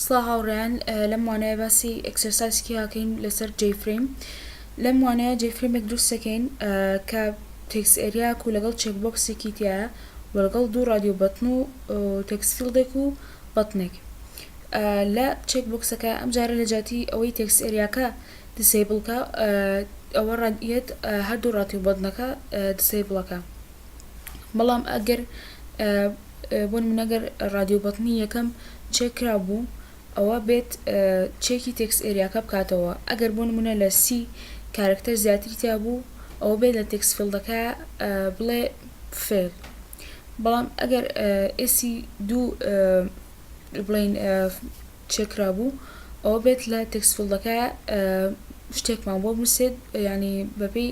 سڵاو هاوڕێیان لەم وانەیە باسی ئێکسەرسایزێکی ئەکەین لەسەر جەی فرەیم لەم وانەیە جەی فرەیمێک دروست ئەکەین کە تێکست ئەریاک و لەگەڵ چێک بۆکسێکی تیایە وە لەگەڵ دوو ڕادیۆ بەتن و تێکست فیڵدێک و بەتنێک لە چێک بۆکسەکە ئەمجارە لە جیاتی ئەوەی تێکست ئەریاکە دیسەیبڵ کا ئەوە ڕەنگیەت هەردوو ڕادیۆ بەتنەکە دیسەیبڵەکە بەڵام ئەگەر بۆ نمونە گەر ڕادیۆ بەتنی یەکەم چێک کرابوو ئەوا بێت چێکی تێکس ئێریاکە بکاتەوە ئەگەر بۆ نمونە لە سی کارکتەر زیاتری تیابوو ئەوە بێت لە تێکس فیلدەکە بڵێ فێل بەڵام ئەگەر ئێسی دوو بڵین چێکرابوو ئەوە بێت لە تێکس فیلدەکە شتێکمان بۆ بنوسێت ینی بەپێی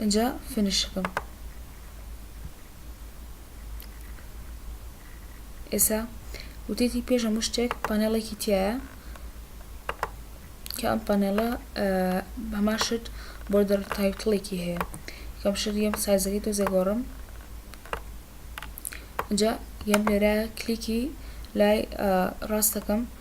ئینجا فینیشەکەم ئێسا وتێتی پێش هەموو شتێک پانێڵێکی تایە کە ئەم پانێڵە هەمان شت بۆردەر تایتڵێکی هەیە کەم شت یەم سایزەکەی تۆ زێگۆڕم اینجا یەم لێرە کلیکی لای ڕاستەکەم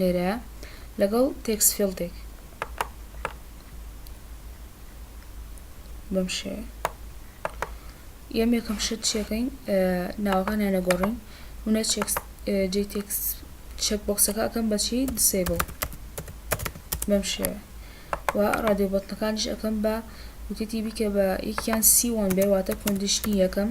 لێرەیە لەگەڵ تێکست فیڵدێک بەم شێوەیە یەم یەکەم شت چیەکەین ناوەکانیان نەگۆڕین منە جی تێکس چەک بۆکسەکە ئەکەم بەچی دیسیبڵ بەم شێوە و ڕادیو بەتنەکانش ئەەکەم بە وتێتی بیکە بە یەکیان سیوان بێ واتە کۆندیشنی یەکەم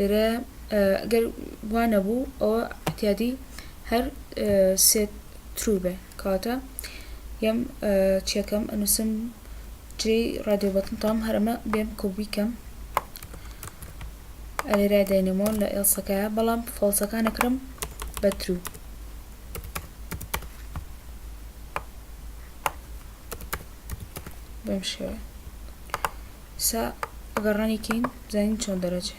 لێرە گەر وانەبوو ئەوە احتیادی هەر سێت ترو بێ کاتە یەم چیەکەم ئەنوسم جێی رادیۆ بەتن تام هەر ئەمە بێم کۆبی کەم ئەلێرای داینەمۆ لە ئێڵسەکایە بەڵام فۆڵسەکان ئەکرم بە ترو بەم شێوە سا ئەگەر ڕانی کەین زانین چۆن دەرەجێ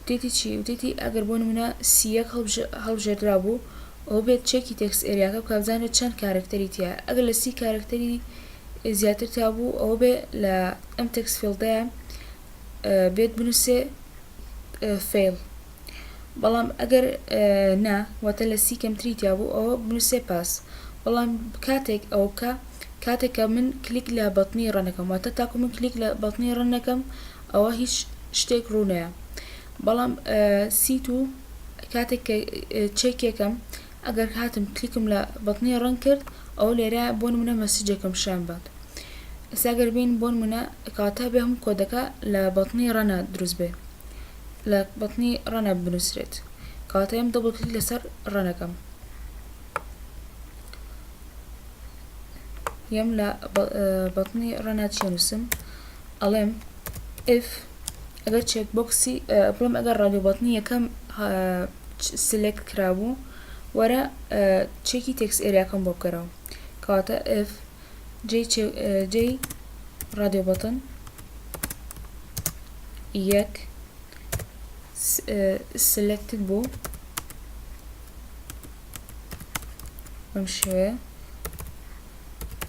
وتێتی چی؟ وتێتی ئەگەر بۆ نموونە سی یەک هەڵبژێردرابوو ئەوە بێت چێکی تێکست ئێریاکە بکا بزانرێت چەند کارەکتەری تیایە ئەگەر لە سی کارەکتەری زیاتر تیابوو ئەوە بێ لە ئەم تێکست فیڵدەیە بێت بنووسێ فیڵ بەڵام ئەگەر نا واتە لە سی کەمتری تیابوو ئەوە بنووسێ پاس بەڵام کاتێک ئەو بکە کاتێکە من کلیک لە بەتنی ڕەنەکەم واتە تاکو من کلیک لە بەتنی ڕەنەکەم ئەوە هیچ شتێک ڕوونەیە بەڵام سیت و کاتێک کە چەکێکم ئەگەر هاتم کلیکم لە بەتنی ڕەنگ کرد ئەو لێرە بۆ نمونە مەسیجێکم شان بات ساگەر بین بۆ نمونە کاتا بێ هەم کۆدەکە لە بەتنی ڕەنا دروست بێ لە بەتنی ڕەنا بنووسرێت کاتەیەم دەبڵ کلیک لەسەر ڕەنەکەم یەم لە بەتنی ڕەنا چێنووسم ئەڵێم if ئەگەر چێک بۆکسی بڵێم ئەگەر ڕادیۆ بەتنی یەکەم سلێکت کرابوو وەرە چێکی تێکس ئێریاکەم بۆ بکەرەوە کەواتە if جێی ڕادیۆ بەتن یەک سلێکتت بوو بەم شێوەیە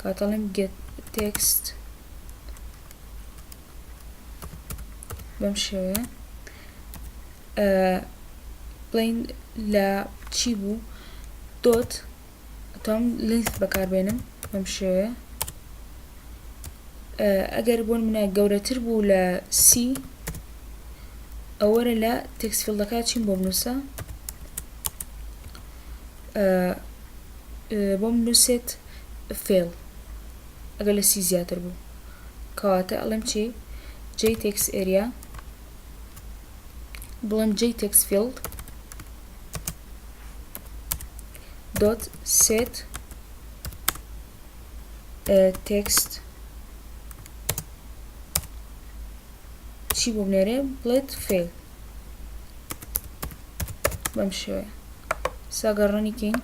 کە دەڵێم گێت تێکست بەم شێوەیە بڵین لە چی بوو دۆت تۆم لینس بەکاربێنم بەم شێوەیە ئەگەر بۆن منە گەورەتر بوو لە سی ئەوەرە لە تێکسفیلدەکە چیم بۆ بنووسە بۆم نوسێت فێڵ ئەگەر لە سی زیاتر بوو کەواتە ئەڵێم چی جەی تێکس ئێریا بڵێم جەی تێکس فیلد دوت سێت تێکست چی بۆ بنێرێ بڵێت فێل بەم شێوەیە سەگە ڕەنی کەین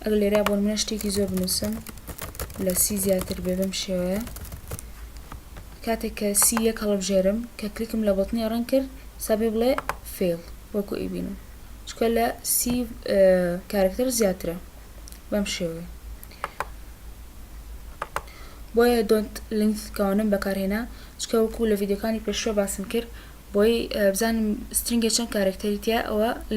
ئەگە لێرا بۆ منە شتێکی زۆر بنووسم لە سی زیاتر بێ بەم شێوەیە کاتێک کە سی یەک هەڵبژێرم کە کلیکم لە بەتنی ڕەنگ کرد سابێ بڵێ فێڵ وەکو ئیبینم چکە لە سی کارکتەر زیاترە بەم شێوەیە بۆیە دۆنت لینک کاونم بەکارهێنا چکە وەکو لە ڤیددیوکانی پێشوە باسم کرد بۆی بزانم سترنگە چەند کارکتەریتە ئەوە